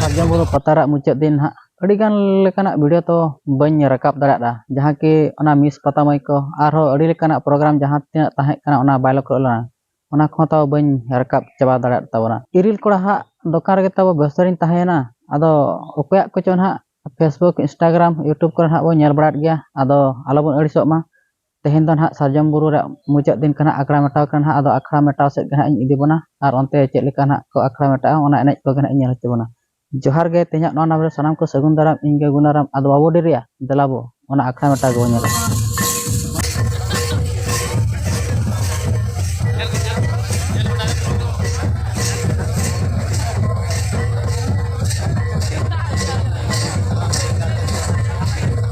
ᱥᱟᱨᱡᱚᱢ ᱵᱩᱨᱩ ᱯᱟᱛᱟ ᱨᱮᱭᱟᱜ ᱢᱩᱪᱟᱹᱫ ᱫᱤᱱ ᱦᱟᱸᱜ ᱟᱹᱰᱤ ᱜᱟᱱ ᱞᱮᱠᱟᱱᱟᱜ ᱵᱷᱤᱰᱤᱭᱳ ᱛᱚ ᱵᱟᱹᱧ ᱨᱟᱠᱟᱵ ᱫᱟᱲᱮᱭᱟᱫᱟ ᱡᱟᱦᱟᱸ ᱠᱤ ᱚᱱᱟ ᱢᱤᱥ ᱯᱟᱛᱟ ᱢᱟᱹᱭ ᱠᱚ ᱟᱨᱦᱚᱸ ᱟᱹᱰᱤ ᱞᱮᱠᱟᱱᱟᱜ ᱯᱨᱳᱜᱨᱟᱢ ᱡᱟᱦᱟᱸ ᱛᱤᱱᱟᱹᱜ ᱛᱟᱦᱮᱸ ᱠᱟᱱᱟ ᱚᱱᱟ ᱵᱟᱭ ᱞᱚᱠᱠᱷᱚ ᱞᱮᱱᱟ ᱚᱱᱟ ᱠᱚᱦᱚᱸ ᱛᱟᱣ ᱵᱟᱹᱧ ᱨᱟᱠᱟᱵ ᱪᱟᱵᱟ ᱫᱟᱲᱮᱭᱟᱫ ᱛᱟᱵᱚᱱᱟ ᱤᱨᱤᱞ ᱠᱚᱲᱟ ᱦᱟᱸᱜ ᱫᱚᱠᱟᱱ ᱨᱮᱜᱮ ᱛᱟᱵᱚ ᱵᱮᱥᱛᱚ ᱨᱤᱧ ᱛᱟᱦᱮᱸᱭᱮᱱᱟ ᱟᱫᱚ ᱚᱠᱚᱭᱟᱜ ᱠᱚᱪᱚ ᱦᱟᱸᱜ ᱯᱷᱮᱥᱵᱩᱠ ᱤᱱᱥᱴᱟᱜᱨᱟᱢ ᱤᱭᱩᱴᱩᱵᱽ ᱠᱚᱨᱮ ᱦᱟᱸᱜ ᱵᱚᱱ ᱧᱮᱞ ᱵᱟᱲᱟᱭᱮᱫ ᱜᱮᱭᱟ ᱟᱫᱚ ᱟᱞᱚ ᱵᱚᱱ ᱟᱹᱲᱤᱥᱚᱜ ᱢᱟ ᱛᱮᱦᱮᱧ ᱫᱚ ᱱᱟᱦᱟᱜ ᱥᱟᱨᱡᱚᱢ ᱵᱩᱨᱩ ᱨᱮ ᱢᱩᱪᱟᱹᱫ ᱫᱤᱱ ᱠᱟᱱᱟ ᱟᱠᱷᱲᱟ ᱢᱮᱴᱟᱣ ᱠᱟᱱᱟ ᱱᱟᱦᱟᱜ ᱟᱫᱚ ᱟᱠᱷᱲᱟ ᱢᱮᱴᱟᱣ ᱥᱮᱫ ᱜᱮ ᱱᱟᱦᱟᱜ ᱤᱧ ᱤᱫᱤ ᱵᱚᱱᱟ ᱟᱨ ᱚᱱᱛᱮ ᱪᱮᱫ ᱞᱮᱠᱟ ᱱᱟᱦᱟᱜ ᱠᱚ ᱟᱠᱷᱲᱟ ᱢᱮᱴᱟᱜᱼᱟ ᱚᱱᱟ ᱮᱱᱮᱡ ᱠᱚᱜᱮ ᱱᱟᱦᱟᱜ ᱤᱧ ᱧᱮᱞ ᱦᱚᱪᱚ ᱵᱚᱱᱟ ᱡᱚᱦᱟᱨ ᱜᱮ ᱛᱮᱦᱮᱧᱟᱜ ᱱᱚᱣᱟ ᱱᱟᱢ ᱨᱮ ᱥᱟᱱᱟᱢ ᱠᱚ ᱥᱟᱹᱜᱩᱱ ᱫᱟᱨᱟᱢ ᱤᱧ ᱜᱮ ᱜᱩᱱᱟᱨᱟᱢ ᱟᱫᱚ ᱵᱟᱵᱚ ᱰᱮᱨᱤᱭᱟ ᱫᱮᱞᱟ ᱵᱚ ᱚᱱᱟ ᱟᱠᱷᱲᱟ ᱢᱮᱴᱟᱣ ᱜᱮᱵᱚ ᱧᱮᱞᱟ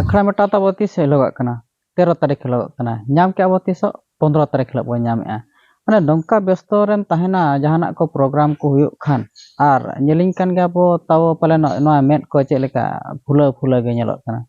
ᱟᱠᱷᱲᱟ ᱢᱮᱴᱟᱣ ᱛᱟᱵᱚ ᱛᱤᱥ ᱦᱤᱞᱳᱜᱟᱜ ᱠᱟᱱᱟ ᱛᱮᱨᱚ ᱛᱟᱹᱨᱤᱠᱷ ᱦᱤᱞᱳᱜ ᱠᱟᱱᱟ ᱧᱟᱢ ᱠᱮᱜᱼᱟ ᱵᱚᱱ ᱛᱤᱥᱚᱜ ᱯᱚᱸᱫᱽᱨᱚ ᱛᱟᱹᱨᱤᱠᱷ ᱦᱤᱞᱳᱜ ᱵᱚᱱ ᱧᱟᱢᱮᱜᱼᱟ ᱢᱟᱱᱮ ᱱᱚᱝᱠᱟ ᱵᱮᱥᱛᱚ ᱨᱮᱢ ᱛᱟᱦᱮᱱᱟ ᱡᱟᱦᱟᱱᱟᱜ ᱠᱚ ᱯᱨᱳᱜᱨᱟᱢ ᱠᱚ ᱦᱩᱭᱩᱜ ᱠᱷᱟᱱ ᱟᱨ ᱧᱮᱞᱤᱧ ᱠᱟᱱ ᱜᱮᱭᱟ ᱵᱚᱱ ᱛᱟᱣ ᱯᱟᱞᱮᱱ ᱱᱚᱣᱟ ᱢᱮᱫ ᱠᱚ ᱪᱮᱫ ᱞᱮᱠᱟ ᱯᱷᱩᱞᱟᱹᱣ ᱯᱷᱩᱞᱟᱹᱣ ᱜᱮ ᱧᱮᱞᱚᱜ ᱠᱟᱱᱟ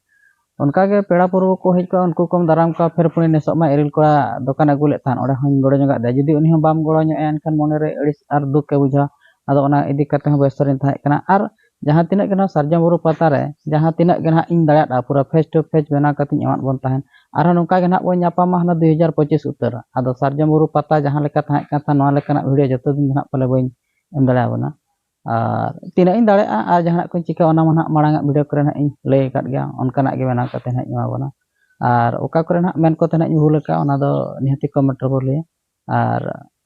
ᱚᱱᱠᱟ ᱜᱮ ᱯᱮᱲᱟ ᱯᱩᱨᱵᱚ ᱠᱚ ᱦᱮᱡ ᱠᱚᱜᱼᱟ ᱩᱱᱠᱩ ᱠᱚᱢ ᱫᱟᱨᱟᱢ ᱠᱚᱣᱟ ᱯᱷᱮᱨ ᱯᱩᱱᱤ ᱱᱮᱥᱚᱜ ᱢᱟ ᱤᱨᱤᱞ ᱠᱚᱲᱟ ᱫᱚᱠᱟᱱᱮ ᱟᱹᱜᱩ ᱞᱮᱫ ᱛᱟᱦᱮᱱ ᱚᱸᱰᱮ ᱦᱚᱧ ᱜᱚᱲᱚ ᱧᱚᱜᱟᱜ ᱫᱮᱭᱟ ᱡᱩᱫᱤ ᱩᱱᱤ ᱦᱚᱸ ᱵᱟᱢ ᱜᱚᱲᱚ ᱧᱚᱜ ᱟᱭᱟ ᱮᱱᱠᱷᱟᱱ ᱢᱚᱱᱮ ᱨᱮ ᱟᱹᱲᱤᱥ ᱟᱨ ᱫᱩᱠᱮ ᱵᱩᱡᱷᱟᱹᱣᱟ ᱟᱫᱚ ᱚᱱᱟ ᱤᱫᱤ ᱠᱟᱛᱮᱫ ᱦᱚᱸ ᱵᱮᱥᱛᱚ ᱨᱮᱧ ᱛᱟᱦᱮᱸ ᱠᱟᱱᱟ ᱟᱨ ᱡᱟᱦᱟᱸ ᱛᱤᱱᱟᱹᱜ ᱜᱮ ᱱᱚᱣᱟ ᱥᱟᱨᱡᱚᱢ ᱵᱩᱨᱩ ᱯᱟᱛᱟ ᱨᱮ ᱡᱟᱦᱟᱸ ᱛᱤᱱᱟᱹᱜ ᱜᱮ ᱱᱟᱦᱟᱜ ᱤᱧ ᱫᱟᱲᱮᱭᱟᱜᱼᱟ ᱯᱩᱨᱟᱹ ᱯᱷᱮᱥ ᱴᱩ ᱯᱷᱮᱥ ᱵᱮᱱᱟᱣ ᱠᱟᱛᱮ ᱤᱧ ᱮᱢᱟᱫ ᱵᱚᱱ ᱛᱟᱦᱮᱸᱫ ᱟᱨᱦᱚᱸ ᱱᱚᱝᱠᱟ ᱜᱮ ᱱᱟᱦᱟᱜ ᱵᱚᱱ ᱧᱟᱯᱟᱢᱟ ᱦᱟᱱᱮ ᱫᱩᱭ ᱦᱟᱡᱟᱨ ᱯᱚᱸᱪᱤᱥ ᱩᱛᱟᱹᱨ ᱟᱫᱚ ᱥᱟᱨᱡᱚᱢ ᱵᱩᱨᱩ ᱯᱟᱛᱟ ᱡᱟᱦᱟᱸ ᱞᱮᱠᱟ ᱛᱟᱦᱮᱸᱫ ᱠᱟᱱ ᱛᱟᱦᱮᱸᱫ ᱱᱚᱣᱟ ᱞᱮᱠᱟᱱᱟᱜ ᱵᱷᱤᱰᱤᱭᱳ ᱡᱚᱛᱚ ᱫᱤᱱ ᱫᱚ ᱱᱟᱦᱟᱜ ᱯᱟᱞᱮ ᱵᱟᱹᱧ ᱮᱢ ᱫᱟᱲᱮ ᱟᱵᱚᱱᱟ ᱟᱨ ᱛᱤᱱᱟᱹᱜ ᱤᱧ ᱫᱟᱲᱮᱭᱟᱜᱼᱟ ᱟᱨ ᱡᱟᱦᱟᱱᱟᱜ ᱠᱚᱧ ᱪᱤᱠᱟᱹᱭᱟ ᱚᱱᱟ ᱢᱟ ᱱᱟᱦᱟᱜ ᱢᱟᱲᱟᱝ ᱟᱜ ᱵᱷᱤᱰᱤᱭᱳ ᱠᱚᱨᱮ ᱱᱟᱦᱟᱜ ᱤᱧ ᱞᱟᱹᱭ ᱟᱠᱟᱫ ᱜᱮᱭᱟ ᱚᱱᱠᱟᱱᱟᱜ ᱜᱮ ᱵᱮᱱᱟᱣ ᱠᱟᱛᱮ ᱱᱟᱦᱟᱜ ᱤᱧ ᱮᱢᱟ ᱵᱚᱱᱟ ᱟᱨ ᱚᱠᱟ ᱠᱚᱨᱮ ᱱᱟᱦᱟᱜ ᱢᱮᱱ ᱠᱚᱛᱮ ᱱᱟᱦᱟᱜ ᱤᱧ ᱵᱷᱩᱞ ᱟᱠᱟᱫᱼᱟ ᱚᱱᱟ ᱫᱚ ᱱᱤᱦᱟᱹᱛᱤ ᱠᱚᱢᱮᱱᱴ ᱨᱮᱵᱚ ᱞᱟᱹᱭᱟ ᱟᱨ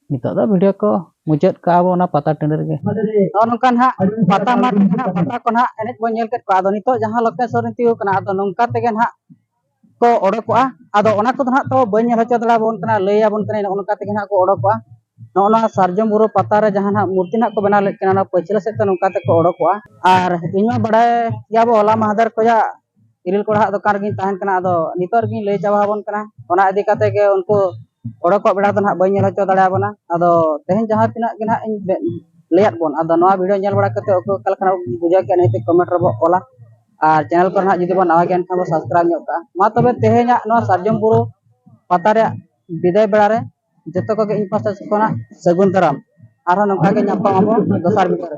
ᱱᱤᱛᱚᱜ ᱫᱚ ᱵᱷᱤᱰᱤᱭᱳ ᱠᱚ ᱢᱩᱪᱟᱹᱫ ᱠᱟᱜᱼᱟ ᱵᱚ ᱚᱱᱟ ᱯᱟᱛᱟ ᱴᱟᱺᱰᱤ ᱨᱮᱜᱮ ᱱᱚᱜᱼᱚ ᱱᱚᱝᱠᱟ ᱱᱟᱦᱟᱜ ᱯᱟᱛᱟ ᱢᱟᱴ ᱱᱟᱦᱟᱜ ᱯᱟᱛᱟ ᱠᱚ ᱱᱟᱦᱟᱜ ᱮᱱᱮᱡ ᱵᱚᱱ ᱧᱮᱞ ᱠᱮᱫ ᱠᱚᱣᱟ ᱟᱫᱚ ᱱᱤᱛᱚᱜ ᱡᱟᱦᱟᱸ ᱞᱚᱠᱮᱥ ᱥᱚᱨᱮᱱ ᱛᱤᱭᱳᱜ ᱠᱟᱱᱟ ᱟᱫᱚ ᱱᱚᱝᱠᱟ ᱛᱮᱜᱮ ᱱᱟᱦᱟᱜ ᱠᱚ ᱚᱰᱚᱠᱚᱜᱼᱟ ᱟᱫᱚ ᱚᱱᱟ ᱠᱚᱫᱚ ᱱᱟᱦᱟᱜ ᱛᱚ ᱵᱟᱹᱧ ᱧᱮᱞ ᱦᱚᱪᱚ ᱫᱟᱲᱮᱭᱟᱵᱚᱱ ᱠᱟᱱᱟ ᱞᱟᱹᱭᱟᱵᱚᱱ ᱠᱟᱹᱱᱟᱹᱧ ᱱᱚᱜᱼᱚ ᱱᱚᱝᱠᱟ ᱛᱮᱜᱮ ᱱᱟᱦᱟᱜ ᱠᱚ ᱚᱰᱚᱠᱚᱜᱼᱟ ᱱᱚᱜᱼᱚ ᱱᱚᱣᱟ ᱥᱟᱨᱡᱚᱢ ᱵᱩᱨᱩ ᱯᱟᱛᱟ ᱨᱮ ᱡᱟᱦᱟᱸ ᱱᱟᱦᱟᱜ ᱢᱩᱨᱛᱤ ᱱᱟᱦᱟᱜ ᱠᱚ ᱵᱮᱱᱟᱣ ᱞᱮᱫ ᱠᱤᱱᱟ ᱚᱱᱟ ᱯᱟᱹᱪᱷᱞᱟᱹ ᱥᱮᱫ ᱛᱮ ᱱᱚᱝᱠᱟ ᱛᱮᱠᱚ ᱚᱰᱚᱠᱚᱜᱼᱟ ᱟᱨ ᱤᱧ ᱢᱟ ᱵᱟᱲᱟᱭ ᱜᱮᱭᱟᱵᱚ ᱦᱚᱞᱟ ᱢᱟᱦᱫᱮᱨ ᱠᱷᱚᱱᱟᱜ ᱤᱨᱤᱞ ᱠᱚᱲᱟᱦᱟᱜ ᱫᱚᱠᱟᱱ ᱨᱮᱜᱮᱧ ᱛᱟᱦᱮᱱ ᱠᱟᱱᱟ ᱟᱫᱚ ᱱᱤᱛᱚᱜ ᱨᱮᱜᱮᱧ ᱞᱟᱹᱭ ᱪᱟᱵᱟ ᱟᱵᱚᱱ ᱠᱟᱱᱟ ᱚᱱᱟ ᱤᱫᱤ ᱠᱟᱛᱮ ᱜᱮ ᱩᱱᱠᱩ ᱦᱚᱲ ᱠᱚᱣᱟᱜ ᱵᱮᱲᱟ ᱫᱚ ᱱᱟᱦᱟᱜ ᱵᱟᱹᱧ ᱧᱮᱞ ᱦᱚᱪᱚ ᱫᱟᱲᱮ ᱟᱵᱚᱱᱟ ᱟᱫᱚ ᱛᱮᱦᱮᱧ ᱡᱟᱦᱟᱸ ᱛᱤᱱᱟᱹᱜ ᱜᱮ ᱱᱟᱦᱟᱜ ᱤᱧ ᱞᱟᱹᱭᱟᱫ ᱵᱚᱱ ᱟᱫᱚ ᱱᱚᱣᱟ ᱵᱷᱤᱰᱤᱭᱳ ᱧᱮᱞ ᱵᱟᱲᱟ ᱠᱟᱛᱮ ᱚᱠᱚᱭ ᱚᱠᱟ ᱞᱮᱠᱟᱱᱟᱜ ᱵᱩᱡᱷᱟᱹᱣ ᱠᱮᱜᱼᱟ ᱱᱤᱦᱟᱹᱛ ᱠᱚᱢᱮᱱᱴ ᱨᱮᱵᱚ ᱚᱞᱟ ᱟᱨ ᱪᱮᱱᱮᱞ ᱠᱚᱨᱮ ᱱᱟᱦᱟᱜ ᱡᱩᱫᱤ ᱵᱚᱱ ᱱᱟᱣᱟ ᱜᱮᱭᱟ ᱮᱱᱠᱷᱟᱱ ᱵᱚ ᱥᱟᱵᱥᱠᱨᱟᱭᱤᱵᱽ ᱧᱚᱜ ᱠᱟᱜᱼᱟ ᱢᱟ ᱛᱚᱵᱮ ᱛᱮᱦᱮᱧᱟᱜ ᱱᱚᱣᱟ ᱥᱟᱨᱡᱚᱢ ᱵᱩᱨᱩ ᱯᱟᱛᱟ ᱨᱮᱭᱟᱜ ᱵᱤᱫᱟᱹᱭ ᱵᱮᱲᱟ ᱨᱮ ᱡᱚᱛᱚ ᱠᱚᱜᱮ ᱤᱧ ᱯᱟᱥᱴᱟ ᱥᱮᱫ ᱠᱷᱚᱱᱟᱜ ᱥᱟᱹᱜᱩᱱ ᱫᱟᱨᱟᱢ ᱟᱨᱦᱚᱸ ᱱᱚᱝᱠᱟ ᱜᱮ ᱧᱟᱯᱟᱢ ᱟᱵᱚ ᱫᱚᱥᱟᱨ ᱵᱷᱤᱰᱤᱭᱳ ᱨᱮ